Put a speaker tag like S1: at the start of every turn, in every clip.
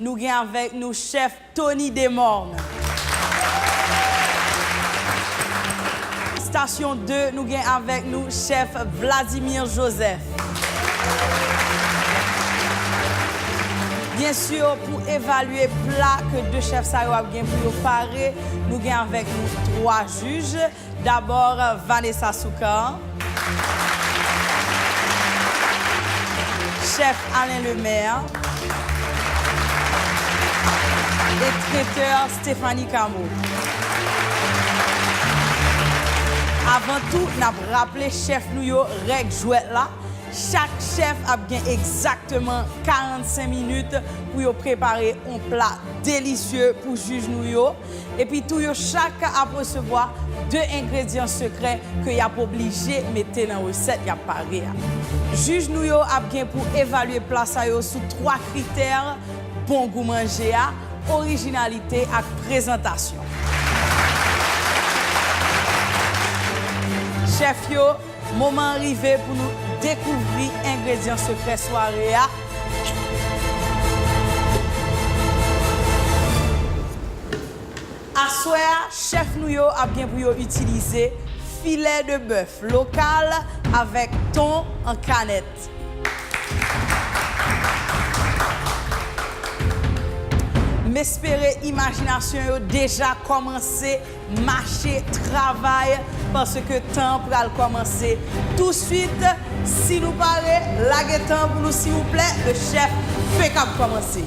S1: Nou gen avèk nou chèf Tony Demorne. Station 2 nou gen avèk nou chèf Vladimir Joseph. Byen sur pou evalye pla ke 2 chèf sa yo ap gen pou yo pare nou gen avèk nou 3 juj. D'abord Vanessa Soukar, Chef Alain Lemaire et Traiteur Stephanie Cameau. Avant tout nap raple chef nou yo règ jwèt la, chak chef ap gen exactement 45 minutes pou yo prepare on plat délicieux pou juge nou yo. Epi tou yo chak ap resevwa 2 engredyan sekrè ke yap oblije mete nan resèt yap pare a. Jij nou yo ap gen pou evalye pla sa yo sou 3 kritè, bon gou manje a, orijinalite ak prezantasyon. Chèf yo Moman an rive pou nou dekouvri engredyan sekrè sware a. Aswè a, chèf nou yo ap gen pou yo itilize filè de bèf lokal avèk ton an kanèt. M espere imajinasyon yo deja kòmanse Mache travay paske tan an pral kòmanse touswit si nou pare lage tan an pou nou siwouplè le chèf fenk ap kòmanse.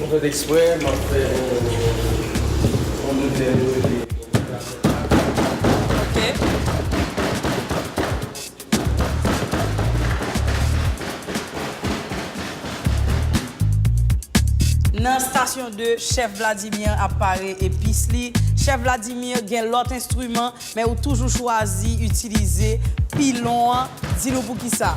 S1: Mwen fèt
S2: eksprè map fè yon yon de tèl yo epi
S1: Ok. Nan stasyon 2, chèf Vladimir ap pare epis li. Chèf Vladimir gen lòt enstriman, men ou toujou chwazi itilize pilon an. Di nou poukisa?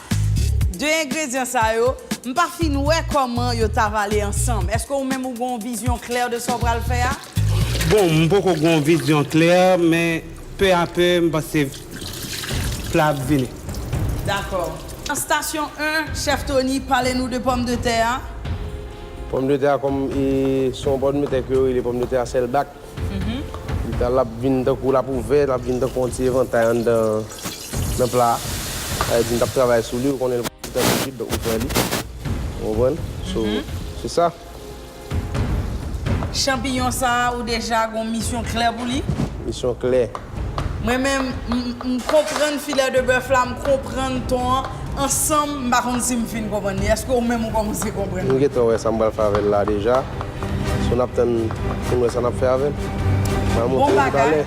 S1: 2 engredyan sa yo, m pa fin wè kòman yo t ap ale ansanm. Èske ou menm ou gen yon vizyon klè de sa w pral fè a? Bon, m
S3: poko gen yon vizyon klè, men pè a pè, m panse pla ap vini. Dakò.
S1: Stasyon 1, Chèf Tony, pale nou de pòmdetè a.
S2: Pòmdetè a kòm e se yon pòmdetè ke yo rele pòmdetè a sèlbak. L ap vin tankou l ap ouvè, l ap vin tankou yon ti evantay anndan nan pla a. Sa vle di m t ap travay sou li, ou konnen l pa fitan tou swit, donk m pran li. Ou konprann? So, se sa.
S1: Chanpiyon sa a, ou deja gen yon misyon klè pou li? Misyon klè.
S2: Mwen menm
S1: m konprann filè de bèf la m konprann ton an ansanm m pa konn si m fin konprann li eske ou menm ou kòmanse konprann li. M gentan wè sa m pral fè
S2: avèl la deja so nap tann poun wè sa nap fè avèl mwen montre nou
S1: toutalè.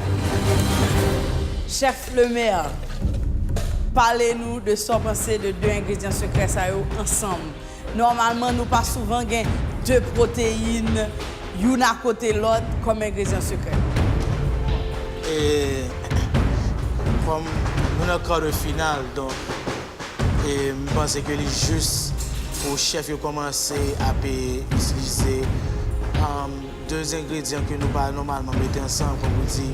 S1: Chef le meilleur pale nou de sa w panse de 2 engredyan sekrè sa yo ansanm. Nòmalman nou pa souvan gen 2 pwoteyin youn akote lòt kòm engredyan sekrè. E kòm
S4: nou nan kar de final donk e m panse ke li jis pou chèf yo kòmanse ap itilize 2 engredyan ke nou pa nòmalman mete ansanm kòm ou di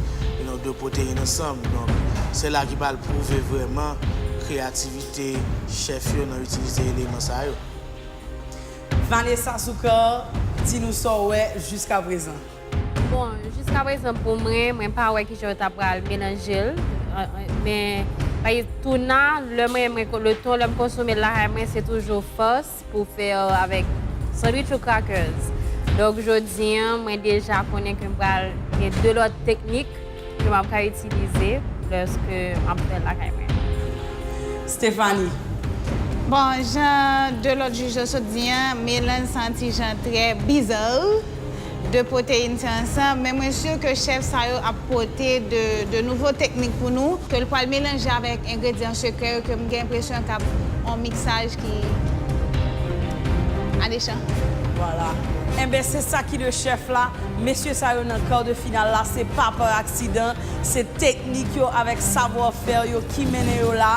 S4: nou 2 pwoteyin ansanm donk se la ki pral pwouve vrèman kreyativite. Te chèf yo nan itilize eleman sa yo. Vanessa
S1: Soukar di nou sa w wè jiskaprezan. Bon,
S5: jiskaprezan pou mwen, mwen pa wè kijan yo ta pral melanje l. Men, pa egzanp, touna, lè mwen, le thon lè m konsome l lakay mwen se toujou fòs. Pou fè avèk sandwich ou crackers. Donk jodi an mwen deja konnen ke m pral gen 2 lòt teknik ke m ap ka itilize lòske m ap fè l lakay mwen.
S1: Stéphanie,
S6: Bon, jan 2 lòt jij yo sot di an, melanj sa yon ti jan trè bizarre. 2 protein se ansanm men mwen sur ke chef sa yo ap pote de nouvo teknik pou nou ke l pwal melanje avek engredyan sekrè yo ke m gen enpresyon kap on miksaj ki alechan. Vwala
S1: enben se sa ki de chef la mesye sa yo nan kar de final la se pa par aksidan se teknik yo avek savoir faire yo ki mennen yo la.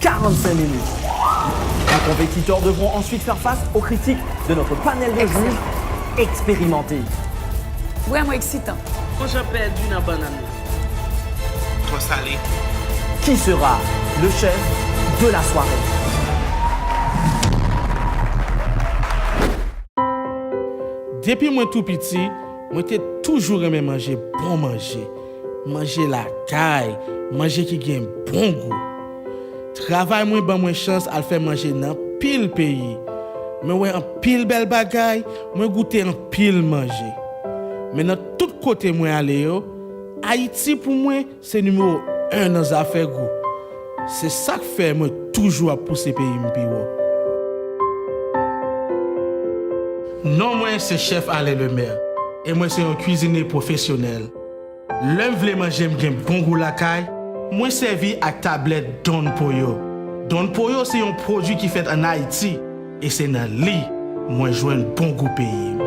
S7: 45 minutes. Nos compétiteurs devront ensuite faire face aux critiques de notre panel de juges expérimentés.
S1: Vrèman eksitan! Ton Jan pèdi
S8: nan bannann lan.
S4: Twò sale. Qui sera
S7: le chef de la soirée?
S3: Depi mwen tou piti, mwen te toujou renmen manje bon manje. Manje lakay, manje ki gen bon gou. Travay mwen ban mwen chans al fè manje nan anpil peyi. Mwen wè anpil bèl bagay, mwen goute anpil manje. Men nan tout kote mwen ale yo, Ayiti pou mwen se nimewo 1 nan zafè gou. Se sa k fè mwen toujou ap pouse peyi m pi wo. Non mwen se Chèf Alain Lemaire e mwen se yon kuizinye pwofesyonèl. Lè m vle manje m gen bon gou lakay, mwen sèvi ak tablèt Don Pollo. Don Pollo se yon pwodui ki fèt an Ayiti e se nan li mwen jwenn bon gou peyi m.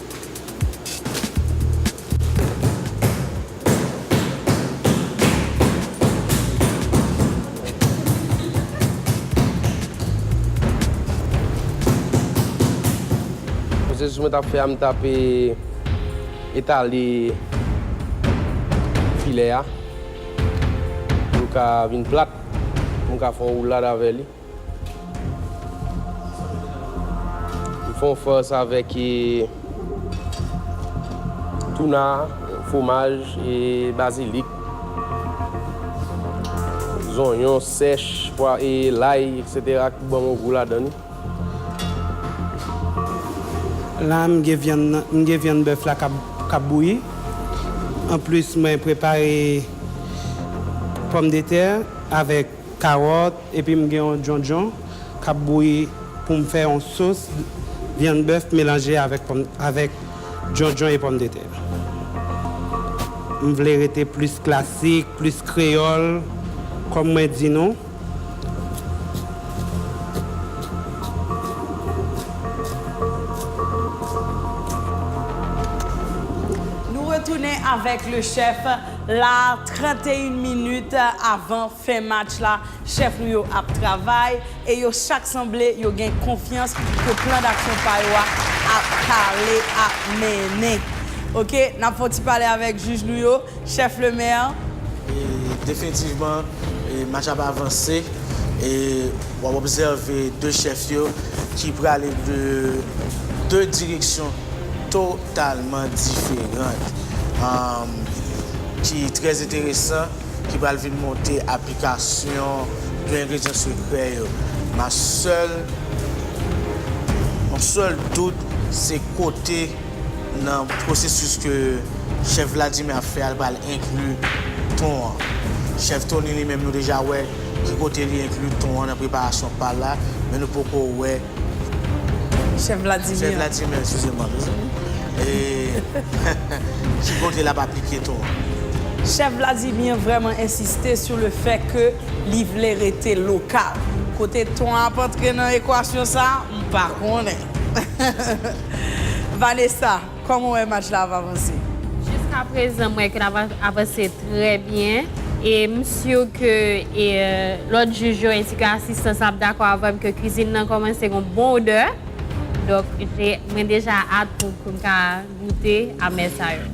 S2: Pwosesis mwen tap fè a m tap etale filè a pou l ka vin plat pou m ka fè yon woulad avè li. M fon fòs avèk tuna, fwomaj, bazilik, zonyon sèch, pwa e lay etc ki ban bon gou ladan li.
S3: La m gen vyann nan, m gen vyann bèf la kap bouyi. Anplis mwen prepare pòmdetè avèk Kawòt epi m gen yon djondjon k ap bouyi pou m fè yon sos vyann bèf melanje avèk pòm avèk djondjon e pòmdetè. M vle rete plis klasik, plis kreyòl kòm mwen di nou. Nou
S1: retounen avèk le chèf. la 31 minit avan fen match la chèf nou yo ap travay e yo chak sanble yo gen konfyans ke plan daksyon pa yo a ap pale ap mennen ok nap fè yon ti pale avèk jij nou yo chèf lemè.
S4: Definitivman match la ap avanse e wap obsève 2 chèf yo ki prale de 2 direksyon to. talman diferant ki trè enteresan ki pral vin monte aplikasyon de engredyan sekrè yo ma sèl yon sèl dout se kote nan pwosesis ke chèf Vladimir ap fè a li pral enkli ton an chèf Tony li menm nou deja wè ki kote li enkli ton an nan preparasyon pal la men nou poko wè.
S1: Chef Vladimir. Chef Vladimir, excusez moi.
S4: Ki kote lap aplike to a? Chef
S1: Vladimir vrèman ensiste sou le fè ke li vle rete lokal. Kote ton an ap antre nan ekwasyon sa, m pa konnen. Vanessa. Kòman w wè match la ap avanse? Jiska prezan
S5: m wè ke l ap avanse trè byen e m si ke lòt jij yo ensi ke asistan sa ap dakò avè m ke kizin nan kòmanse gen yon bon odè. Donk mwen deja at pou m ka goute amè sa yo.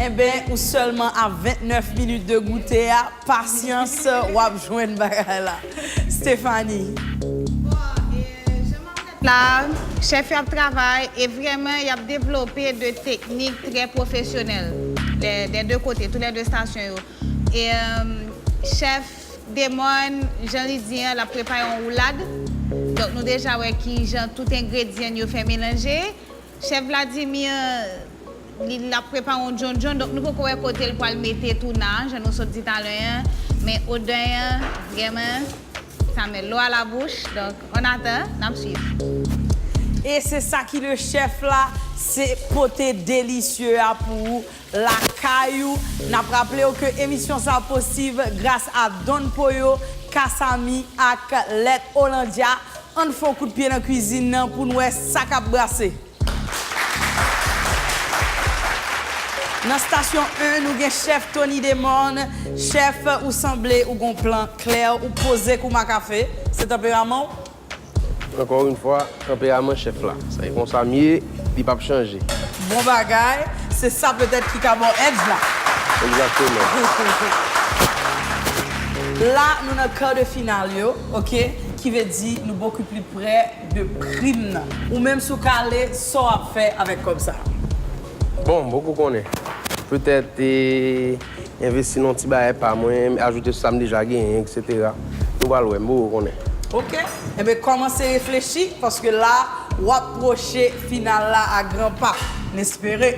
S5: Enben
S1: ou sèlman a 29 minit de goute a, pasyans w ap jwenn bagay la. Stéphanie. Bon, jan m
S6: ap la, chèf yo ap travay e vrèman y ap devlope de teknik trè pwofesyonèl dè dè de kote, tou lè de estasyon yo. E chèf Demòn, jan li di an, l ap prepare yon woulad. Donk nou deja wè ki jan tout engredyan n yo fè melanje. Chef Vladimir li lap prepare yon djondjon donk nou poko wè kotel pwal mete Touna an jan nou sot di talè an men odè an vrèman sa met l'eau à la bouche donk on attend nap swiv. E
S1: se sa ki le chef la se pote delicieux a pou ou. Lakay ou, Nap raple w ke emisyon sa posib gras a Don Poyo, Kasamy ak Let Hollandia. Ann fon kout pye nan kwizin nan pou n wè sa kap brase. Nan stasyon 1 nou gen chèf Tony Demorne, chèf ou sanble ou gon plan klè ou poze kou ma kafe, se tanperaman w? Ankò
S2: yn fwa tanperaman chèf la. Se konsa m ye, li pap chanje. Bon bagay,
S1: se sa petèt ki ka ba w edj la. Egzakteman. La nou nan kar de final yo ok ki ve di nou boku pli prè de prim nan. Ou menm si w ka ale sa w ap fè avèk kòb sa? Bon,
S2: m poko konnen. Petèt. Envesti nan ti bagay pa mwen, ajoute sou sa m deja genyen, etc. Nou pral wè, m poko konnen. Ok, enben
S1: kòmanse reflechi paske la w ap pwoche final la a gran pa. N espere.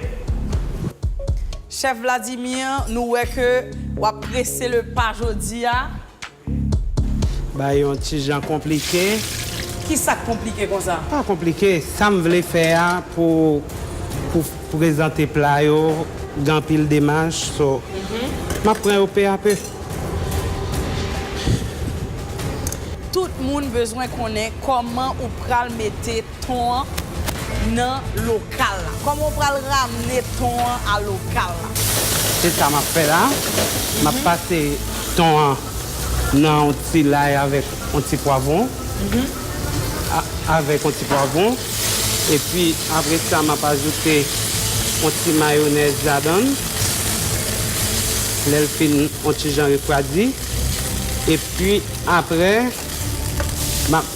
S1: Chèf Vladimir, nou wè ke w ap prese le pa jodi a.
S9: Bay yon ti jan konplike. Ki sa k
S1: konplike konsa? Pa konplike, sa m
S9: vle fè a pou pou prezante pla yo gen anpil demach so m ap pran yo pe a pe.
S1: Tout moun bezwen konnen kòman ou pral mete. Ton an nan lokal la. Kòman w pral ramne ton an a lokal la? Se sa
S9: m ap fè la. M ap pase ton an nan yon ti lay avèk yon ti pwavwon. Avèk yon ti pwavwon. Epi apre sa, m ap ajoute yon ti mayonèz ladan l. Lè l fin yon ti jan refwadi. Epi apre, m ap.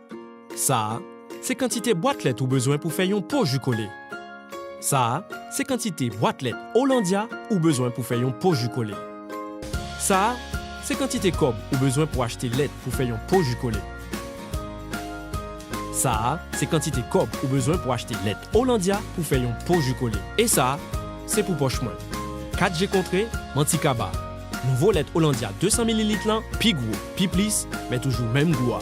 S10: Sa a, se kantite bwat lèt ou bezwen pou fè yon po ji kole. Sa a, se kantite bwat lèt Hollandia ou bezwen pou fè yon po ji kole. Sa a, se kantite kòb ou bezwen pou achte lèt pou fè yon po ji kole. Sa a, se kantite kòb ou bezwen pou achte lèt Hollandia pou fè yon po ji kole. E sa, se pou pòch mwen. Kat je kontre, manti kaba. Nouvo lèt Hollandia 200 mililit lan pi gwo, pi plis, men toujou menm gou a.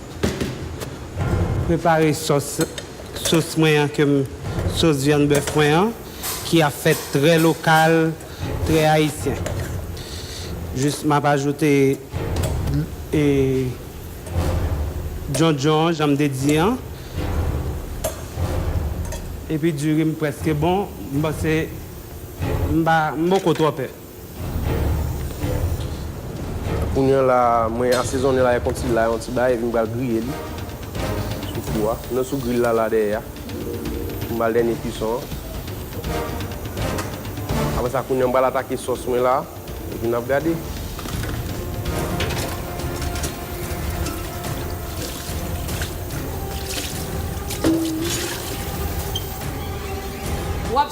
S9: Prepare sòs sòs mwen an kem sòs vyann bèf mwen an ki ap fèt trè lokal, trè ayisyen. Jis map ajoute e djondjon an janm te di an. Epi diri m preske bon, m panse m pa m poko twò pè.
S2: Ounyon la mwen asezonnen la konn ti lay yon ti bay epi m pral griye li sou fou a non sou grill la la dèyè a pou m bal dènye kuison an. Aprè sa kounye an m pral atake sòs mwen la epi nap gade.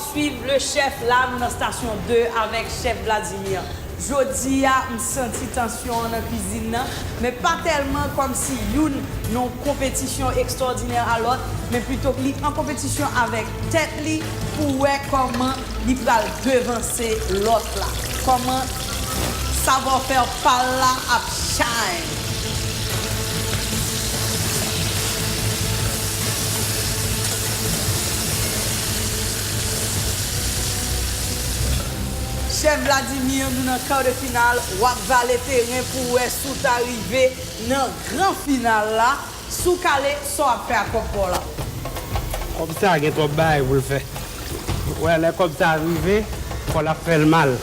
S1: Swiv le chef la m nan station 2 avek chef Vladimir jodi a m santi tansyon an nan cuisine nan men pa telman kom si youn nan konpetisyon extraordinaire a lot men pluto li an konpetisyon avek tet li pou we koman li pral devanse lot la koman Savoir faire pal la ap shine. Chef Vladimir nou nan quart de finale wap vale teren pou wè si w ta rive nan gran final la. Si w kale, sa w ap fè ak kòb pa w la? Kòb
S9: sa a gen twòp bagay pou l fè. Ou wè, lè kòb sa a rive, kò l ap fè l mal.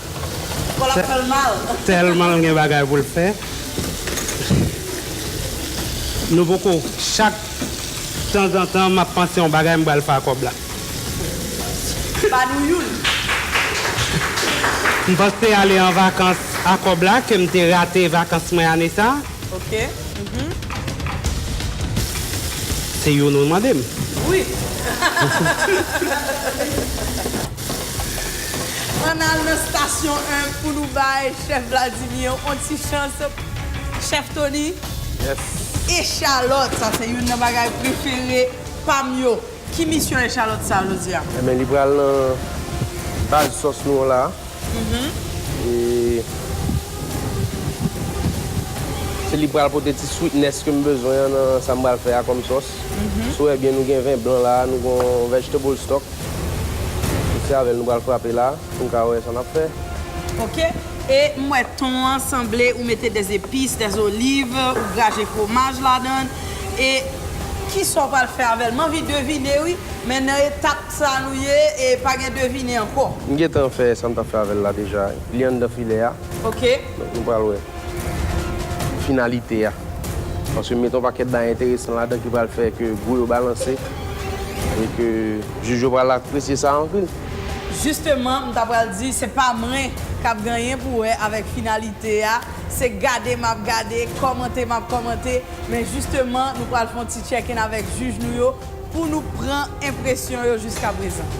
S9: Kò l ap fè
S1: l mal? Tèlman l gen bagay
S9: pou l fè. Nou poko, chak tanzantan m ap panse yon bagay m pral fè ak kòb la.
S1: Ba nou youn.
S9: M panse ale an vakans ak kòb la ke m te rate vakans mwen ane sa a. Ok
S1: uhmm.
S9: Se youn ou mande m? Wi.
S1: Ann al nan stasyon 1 pou nou bay chèf Vladimir on ti chans chèf Tony.
S2: Yes.
S1: Echalòt, sa se youn nan bagay prefere pa m yo. Ki misyon echalòt sa jodi a? Ebyen li pral nan
S2: baz sòs nou an la e se li pral pote ti sweetness ke m bezwen an nan sa m pral fè a kòm sòs. Si w wè byen nou gen ven blan la, nou gen yon vegetable stock e se avè l nou pral frape la pou n ka wè sa n ap fè. Ok
S1: e m wè ton an sanble ou mete des epices, des olives, ou graje fwomaj ladan l. E kisa w pral fè avèl? M anvi devine wi, men nan etap sa nou ye e pa gen devine ankò. M gentan fè sa m
S2: tap fè avèl la deja, li anndan filè a. Ok. Donk
S1: nou pral wè
S2: finalite a. Paske m met yon pakèt bagay enteresan ladan ki pral fè ke gou yo balanse e ke jij yo pral apresye sa anpil. Jisteman m
S1: ta pral di se pa mwen kap gen anyen pou wè avèk finalite a, se gade map gade, kòmante map kòmante. Men jisteman nou pral fè yon ti check in avèk jij nou yo pou nou pran enpresyon yo jiskaprezan.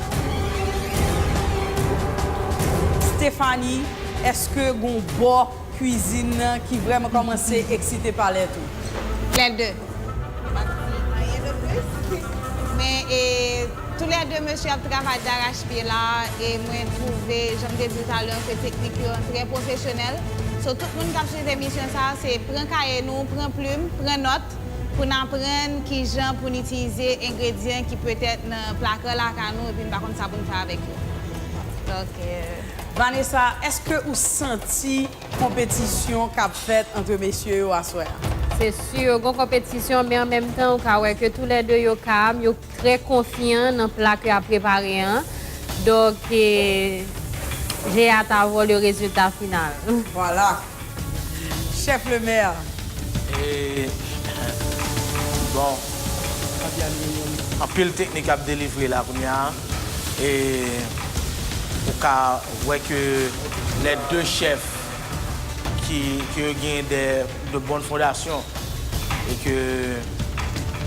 S1: Stéphanie, èske gen yon bò kwizin ki vrèman kòmanse eksite palèt ou? Les deux.
S6: M pa di anyen de plis. Men e. Tou lè 2 mesye ap travay darachpye la e mwen twouve jan m te di w talè an se teknik yo an trè pwofesyonèl so tout moun k ap swiv emisyon sa a se pran kaye nou pran plim pran nòt pou n aprann kijan pou n itilize engredyan ki petèt nan plaka lakay nou epi n pa konn sa pou n fè avèk yo donk. Vanessa
S1: èske ou santi konpetisyon k ap fèt antre mesye yo aswè a? Se sur
S5: gon konpetisyon men an menm tan ou ka wè ke tou lè 2 yo kalm yo. Trè konfyan nan pla ke ap prepare an, donk je a ta vo le rezilta final. Vwala!
S1: Chèf Lemèr!
S4: Eehh bon anpil teknik ap delivre la kounya e ou ka wè ke lè 2 chèf ki yo gen de de bon fondasyon e ke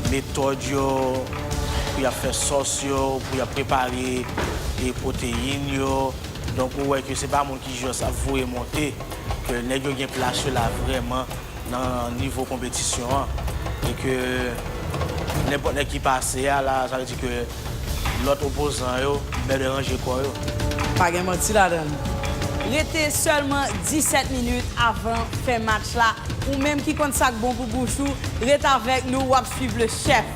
S4: metòd yo pou y ap fè sòs yo, pou y ap prepare e pwoteyin yo, donk ou wè ke se pa moun ki jòs ap voye monte, ke nèg yo gen plas yo la vrèman nan nivo konpetisyon an e ke nenpòt nèg ki pase a la sa vle di ke. Lòt opozan yo bèlè ranje kò yo. Pa gen manti
S1: ladan l. Rete sèlman 17 minit avan fen match la, ou menm ki konn sa k bon pou bouch ou, ret avèk nou w ap swiv le chèf.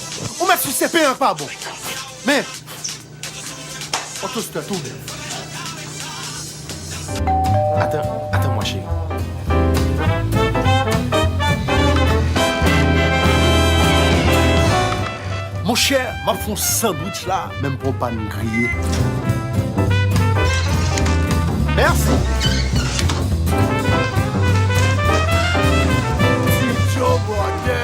S11: Ou met sou CP an k pa bon. Men. Ou tou stè tou menm. Atan, atan mwa cheri. Monchè, m ap fon sandwich la men m pran w pann griye. Mèsi. Ti Joe Bòdè.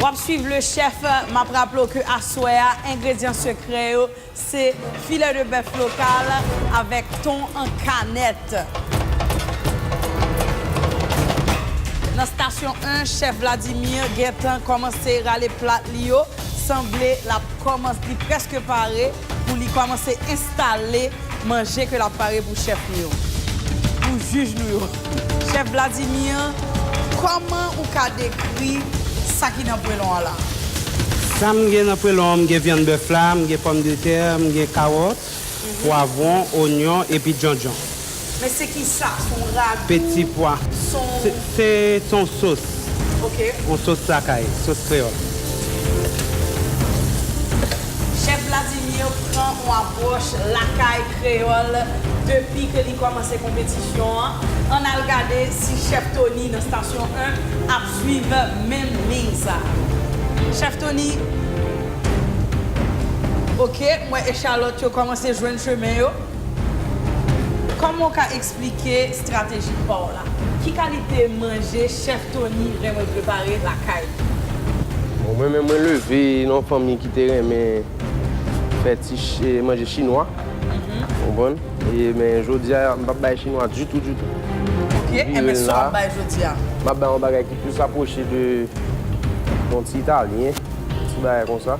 S1: Wap swiv le chef, map raple w ke aswè a engredyan sekrè yo se filè de bèf lokal avèk ton an kanèt. Nan stasyon 1, chèf Vladimir gentan kòmanse rale plat li yo, sanble lap kòmanse li prèske pare pou li kòmanse enstale manje ke lap pare pou chèf nou yo, pou jij nou yo. Chèf Vladimir, kòman ou ka dekri sa ki nan pwelon an la? Sam
S9: gen nan pwelon an, m gen vyann bèf la, m gen pòm de tè, m gen kawòt. pwavwon, onyon epi djondjon. Men se kisa?
S1: Se yon ragou? Peti pwa.
S9: Se yon sos. Ok. Yon
S1: sos lakay.
S9: Sos kreyòl.
S1: Chèf Vladimir pran yon apwòch lakay kreyòl depi ke li kòmanse konpetisyon an. Ann al gade si chèf Tony nan stasyon 1 ap swiv menm liy sa. Chèf Tony. Ok, m wè echalòt yo kòmanse jwenn chemen yo. Kòman w ka eksplike strateji pa w la? Ki kalite manje chèf Tony renmen prepare lakay li? Bon,
S2: mwen menm, mwen leve nan yon fanmi ki te renmen fè ti manje chinwa. Ou konprann? E, men jodi a, m p ap bay chinwa ditou, ditou. Ok, e
S1: men sa w ap bay jodi a? M ap bay yon bagay ki
S2: plis apwoche de yon ti italyen. Ti bagay konsa.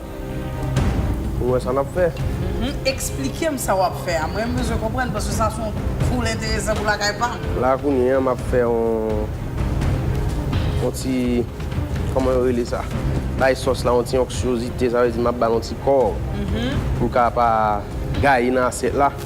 S2: Ou wè sa nap fè. Eksplikem
S1: sa wap fè a. Mwen bezwen konprann paske sa son full enteresan pou lakay pam. La kounye an map
S2: fè yon ti kòman yo rele sa. Bay sòs la yon ti onksyozite sa vle di map bal yon ti kò. Pou l ka pa gaye nan asyèt la.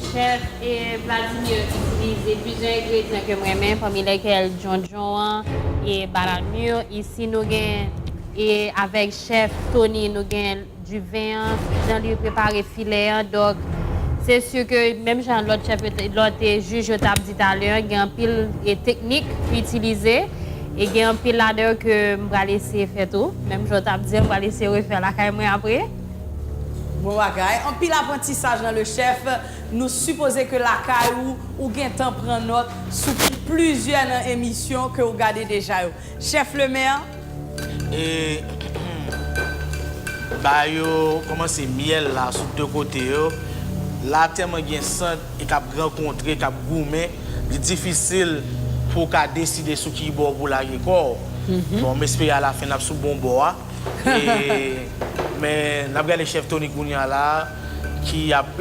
S5: Chef e Vladimir yo itilize plizyè engredyan kem renmen pami lèkèl djondjon an e balanur isi nou gen e avèk chef Tony nou gen du vin an jan li prepare filè an dòk se sur ke menm jan lòt chef yo te lòt e juj yo tap di talè an gen anpil e teknik pou itilize e gen anpil ladan yo ke m pral eseye fè tou menm jan w tap di an m pral eseye refè lakay mwen apre. Bon
S1: bagay. Anpil aprantisaj nan le chef. Nou sipoze ke lakay ou, ou gentan pran nòt sou plizyè nan emisyon ke ou gade deja yo. Chef le maire.
S4: Ba yo komanse myèl la sou 2 kote yo. La tèlman gen sant e kap gran kontre, kap goumen, li difisil pou ou ka deside sou ki bò pou w lage kò w. Bon, m espere a la fen nap sou bon bò a. Men nap gade chef Tony kounya la ki ap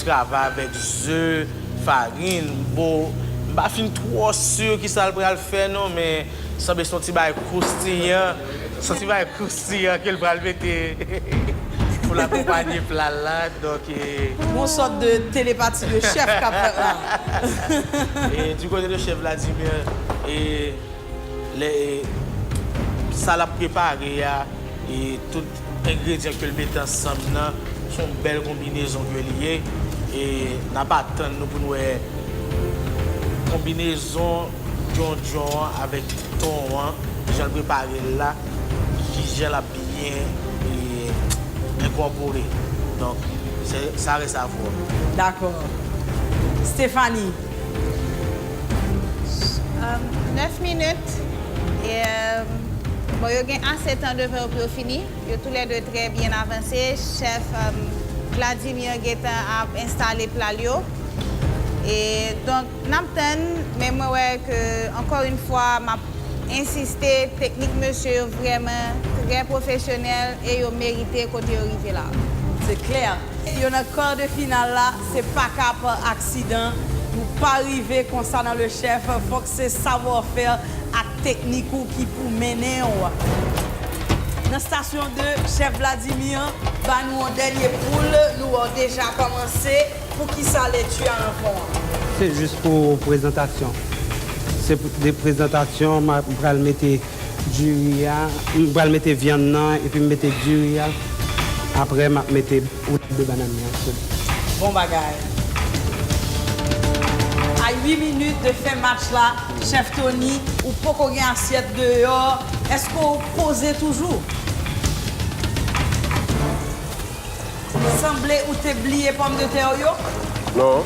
S4: travay avèk ze, farin, bon m pa fin twò sur kisa l pral fè non men sanble son ti bagay kroustiyan, son ti bagay kroustiyan ke l pral mete pou l akonpanye pla l la donk. Gon sòt
S1: de telepati de chef kap fèt la.
S4: Du côté de chef Vladimir Lè sa lap prepare a e tout engredyan ke l mete ansanm nan son bèl konbinezon ke li ye e nap atann nou pou nou wè konbinezon djondjon an avèk ton an jan l prepare l la kijan lap byen enkòpore donk sa rès a vwa. Dakò
S1: Stéphanie.
S6: 9 minit e bon yo gen ase tan devan yo pou yo fini yo tou lè 2 trè byen avanse chèf Vladimir gentan ap enstale pla l yo e donk n ap tann men mwen wè ke ankò yn fwa m ap ensiste teknik mesye yo vrèman trè pwofesyonèl e yo merite kote yo rive la. Se klè
S1: yo nan kar de final la. Se paka pa aksidan pou pa rive konsa nan le chef fok se savoir faire ak teknik ou ki pou mennenw nan station 2 chef Vladimir ba nou yon denye poul nou or deja komanse pou kisa le tu a nan fon an. Se jus pou
S9: prezantasyon. Se de prezantasyon m pral mete. diri a m pral mete vyann nan epi m mete diri a aprè map mete roulade de banane nan sou.
S1: Bon bagay. A 8 minutes de fen match la chef Tony ou poko gen asyèt deyò eske w poze toujou? Sanble ou te bliye pòm de tè ou yo? Non.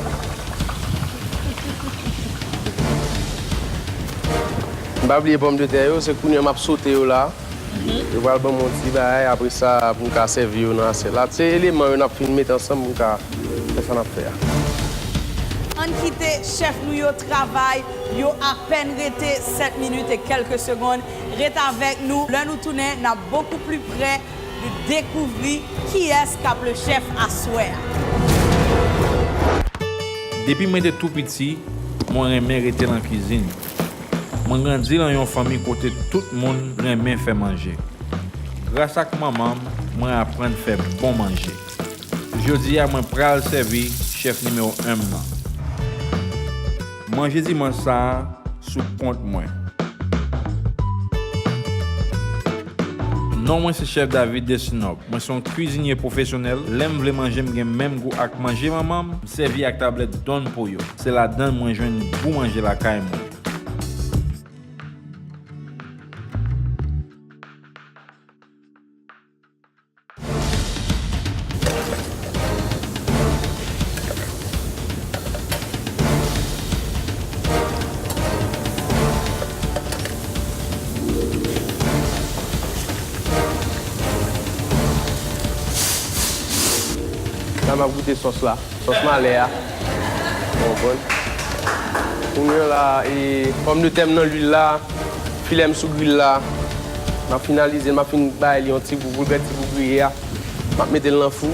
S2: M pa bliye pòm de tè yo, se kounye a m ap sote yo la. Yo pral ban m yon ti bagay apre sa pou m ka sèvi yo nan asyèt la. Se eleman yo n ap fin mete ansanm pou n ka fè sa n ap fè a.
S1: Ann kite chèf nou yo travay, yo apèn rete 7 minit e kèlke segond. Ret avèk nou, lè nou tounen n ap bokou pli prè. Li dekouvri kiyès k ap le chèf aswè a.
S12: Depi mwen te tou piti, mwen renmen rete lan kizin. Mwen grandi lan yon fanmi kote tout moun renmen fè manje. Gras ak manman m, mwen aprann fè bon manje. Jodi a mwen pral sèvi chèf nimewo 1 m nan. Manje dimanch sa a sou kont mwen. Non mwen se chèf David Destinop. Mwen se yon kwizinye pwofesyonèl. Lè m vle manje m gen menm gou ak manje manman m, m sèvi ak tablèt Don Pollo. Se ladan l mwen jwenn gou manje lakay mwen.
S2: Nan map goute sos la. Sòs malè a bon bon. Kounye an la e pòm de tè m nan lwil la, filè m sou gril la. M ap finalize, m ap fin bay li yon ti gou boulpèt, ti gou griye a. M ap mete l nan fou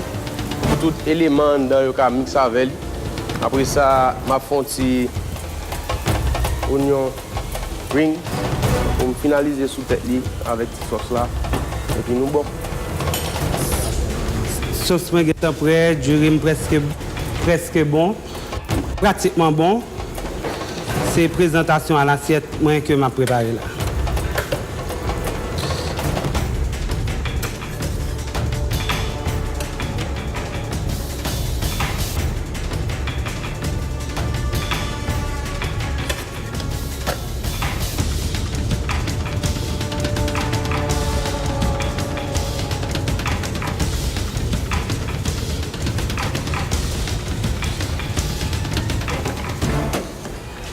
S2: pou tout eleman anndan yo ka mikse avè li. Apre sa, m ap fè yon ti onyon. Rings pou m finalize sou tèt li avèk ti sòs la epi nou bon.
S9: Sòs mwen gentan prè, diri m prèske prèske bon, pratikman bon. Se prezantasyon a lasyèt mwen ke m ap prepare la.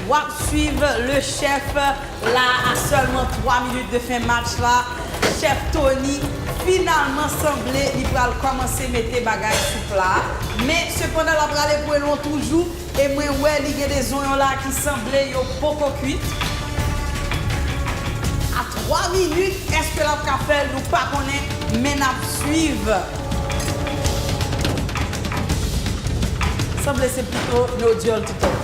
S1: Wap swiv le chef la a selman 3 minit de fen match la chef Tony finalman sanble li pral komanse mete bagay sou pla men sepandan lap rale pwelon toujou. E mwen wè li gen de zonyon la ki sanble yo poko kwit. A 3 minit eske lap ka fèl nou pa konnen men nap swiv. Sanble se pito no dyòl tout an.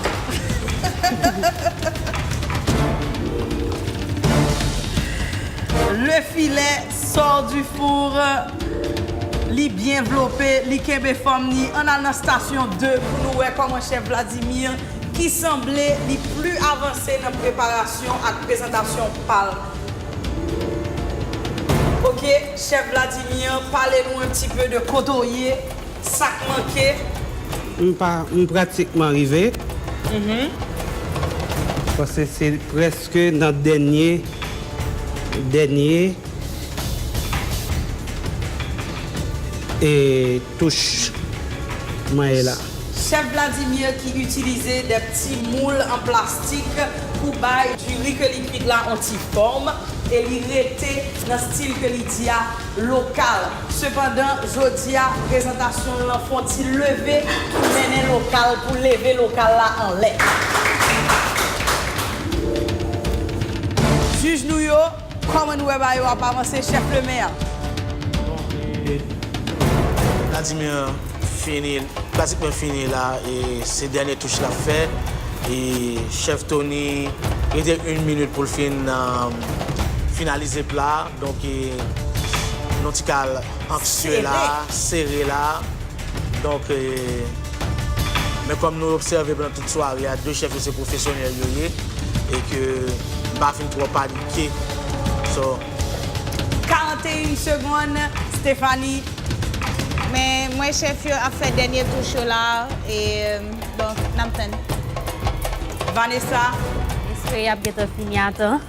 S1: Le filè. Sort du four Li byen vlope, li kenbe fòm ni, ann al nan stasyon 2 pou nou wè kòman chèf Vladimir ki sanble li pli avanse nan preparasyon ak prezantasyon pa l. Ok chèf Vladimir pale nou un ti peu de kote w ye, sa k manke. M pa,
S9: m pratikman rive. Pase se prèske. Ke nan dènye, dènye, e touch mwen ye la. Chef Vladimir
S1: ki itilize de pti moul an plastik pou bay du riz ke li kwit la on ti forme e li rete nan stil ke li di a lokal. Sepandan, jodi a, prezantasyon l lan fon ti leve pou mennen lokal, pou leve lokal la anlè. Jij nou yo, kòman nou wè ba yo ap avanse, chèf Lemè a? Bon, e
S4: Vladimir fini, pratikman fini la, e se dènye touch l ap fè. E chèf Tony rete 1 minit pou l fin finalize pla a. Donk nou ti kal anksye la, sere la. Donk men kòm nou obsève pandan tout sware a, 2 chèf yo se pwofesyonèl yo ye e ke m pa fin twò panike. So.
S1: 41 segonn, Stéphanie. Men
S6: m wè chèf yo ap fè dènye touch yo la e donk n ap tann. Vanessa.
S1: M espere
S5: y ap gentan fini a tan.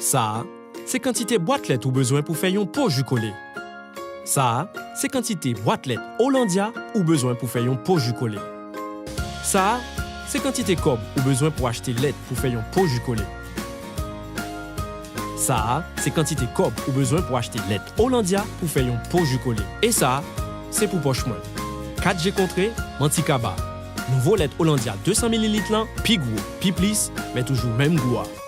S10: Sa a, se kantite bwat lèt ou bezwen pou fè yon po ji kole. Sa a, se kantite bwat lèt Hollandia ou bezwen pou fè yon po ji kole. Sa a, se kantite kòb ou bezwen pou achte lèt pou fè yon po ji kole. Sa a, se kantite kòb ou bezwen pou achte lèt Hollandia pou fè yon po ji kole. E sa, se pou pòch mwen. Kat je kontre, manti kaba. Nouvo lèt Hollandia 200 mililit lan pi gwo, pi plis, men toujou menm gou a.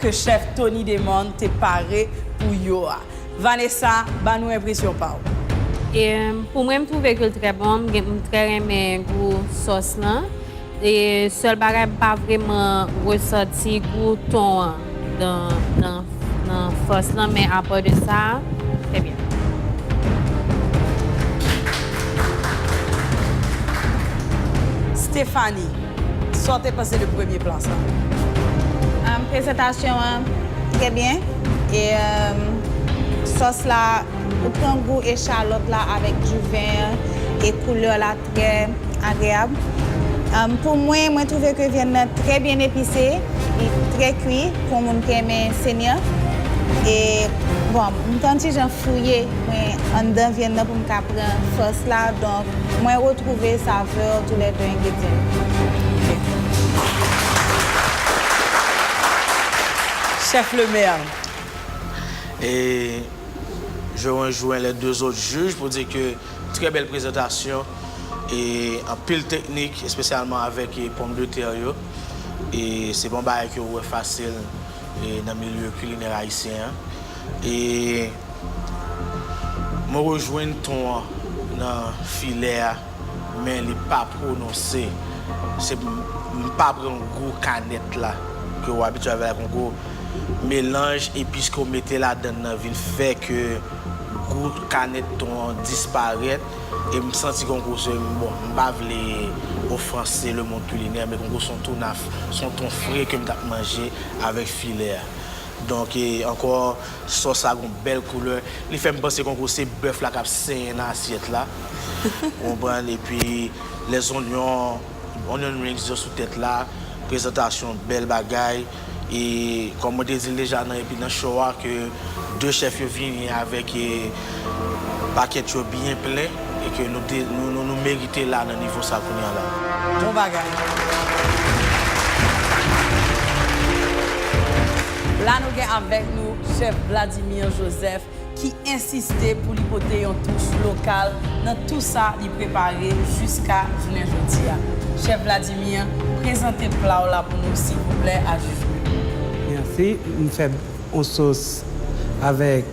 S1: ke chèf Tony Demond te pare pou yo a. Vanessa, ban nou enpresyon pa w. E
S5: pou mwen m trouve ke l trè bon, m gen m trè renmen gou sòs lan e sèl bagay m pa vreman resanti gou thon an nan nan sòs lan men apa de sa trè byen.
S1: Stéphanie, Sa w te panse de premye plan sa a? Prezantasyon
S6: an trè byen e sòs la ou pran gou echalòt la avèk diven an e koulè la trè agreyab. Pou mwen, mwen twouve ke vyann nan trè byen epise, li trè kwi pou yon moun ki renmen senyan e bon m te yon ti jan fouye mwen anndan vyann nan pou m ka pran sòs la donk Mwen retrouve
S1: saveur tou les deux ingredyen
S4: yo. Chef le maire. Et je rejoins les deux autres juges pour dire que très belle présentation et anpil technique especialement avec pomme de terre yo et se pa yon bagay ke ou wè facile nan milieu culinaire haïtien an. E mwen rejwenn ton an nan filè a men li pa pwononse se m pa pran gou kanèt la ke ou abitye avè l ak yon gwo melanj epis ke ou mete ladan l nan vin fè ke gou kanèt ton an disparèt e m santi gen yon gwo se bon m pa vle ofranse le mond kilinè men gen yon gwo son ton fre ke m t ap manje avèk filè a. Donk ankò sòs la gon bèl koulè, li fèm panse kon kou se bèf la kap senyen nan asyèt la ou konprann epi lè zonyon, onion rings yo sou tèt la, prezantasyon bèl bagay e kòm mwen te dil deja nan epi nan show a ke 2 chèf yo vini avèk. Paket yo byen plen e ke nou merite la nan nivo sa kounye a la. Bon bagay.
S1: La nou gen avèk nou Chèf Vladimir Joseph ki ensiste pou li pote yon touch lokal nan tou sa li prepare jiska jounen jodi a. Chèf Vladimir, prezante pla w la pou nou silvouplè a Juju. Merci, m fè
S9: on sos avèk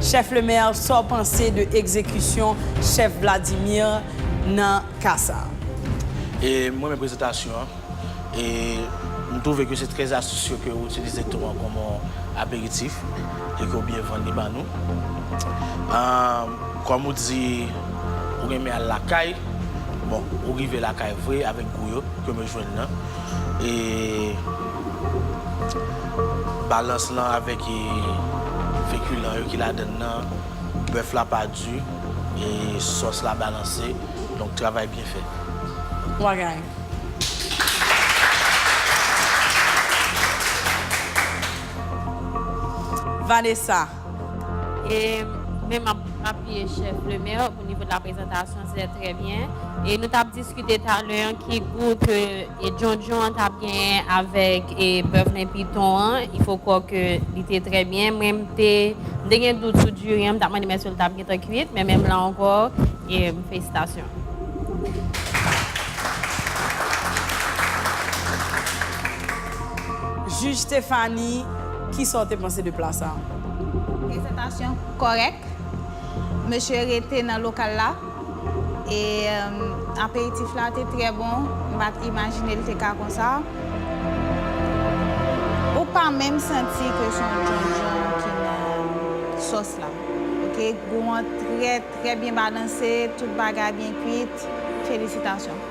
S1: Chef Lemaire sa w panse de egzekisyon chef Vladimir nan ka sa a? E
S4: m renmen prezentasyon an. E m twouve ke se trè astisye ke w itilize tou an kòm yon aperitif e ke w byen vann li ba nou. Kòm ou di ou renmen al lakay, bon ou rive lakay vre avèk gou yo ke m jwenn nan. e balans lan avèk fekilan yo ki ladann nan, bèf la pa di e sòs la balanse, donk travay byen fèt. Wagan.
S1: Vanessa.
S5: E men map apiye chef Lemaire au niveau de la présentation se très bien e nou tap diskite talè an ki gou ke djondjon an tap genyen avèk bèf nen piton an il faut kwò ke li te très bien mwen m te m te gen dout sou diri an m tap mande m èske l tap gentan kwit men menm la ankò felisitasyon.
S1: Juge Stéphanie. Kisa w te panse de pla sa a? Prezantasyon
S6: kòrèk. Mesye rete nan lokal la. E aperitif la te trè bon. M pa t imajine l te ka konsa. Ou pa menm santi ke se yon djondjon ki nan sòs la. Ok, gou an trè trè byen balanse. Tout bagay byen kuit. Felisitasyon.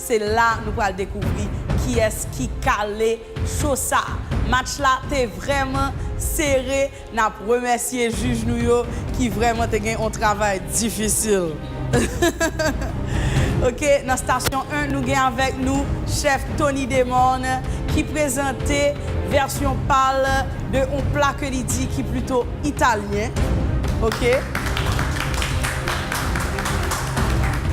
S1: Se la nou pral dekouvri kiyès ki kale cho sa. Match la te vrèman sere, nap remèsye jij nou yo ki vrèman te gen on travay difisil. Ok nan stasyon 1 nou gen avèk nou chèf Tony Demorne ki prezante vèsyon pal de on pla ke li di ki plito Italyen, ok.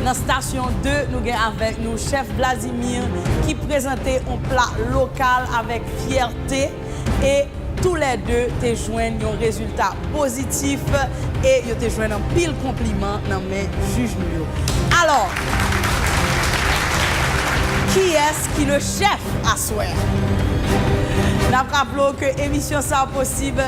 S1: Nan stasyon 2, nou gen avèk nou chèf Vladimir ki prezante yon pla lokal avèk fyète e tou lè 2 te jwenn yon rezilta pozitif e yo te jwenn anpil konpliman nan men jij nou yo. Alò, kiyès ki le chèf aswè a? N ap raple w ke emisyon sa posib.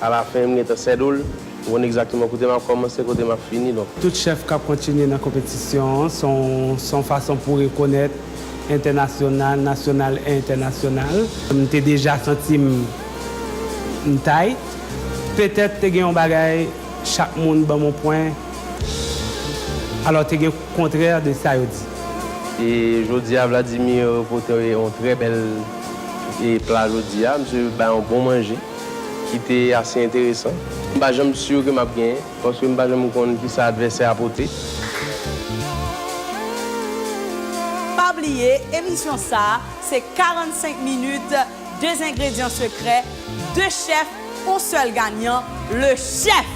S2: A la fin m gentan sèdo l. M konn exactement kote map komanse kote map fini donk. Tout chèf kap kontinye
S9: nan konpetisyon an s on s on fason pou rekonèt entènasyonal, nasyonal e entènasyonal. M te deja santi m m tight. Petèt te gen yon bagay chak moun banm yon pwen alò te gen kontrè de sa yo di. E
S2: jodi a Vladimir pote yon trè bèl e pla jodi a. Misye bay yon bon manje. ki te ase enteresan. M pa janm sur ke m ap genyen, paske m pa janm konn ki sa advèsè a pote.
S1: Pa bliye, emisyon sa se 45 minit de zengredyan sekrè, de chèf, on sèl ganyan, le chèf!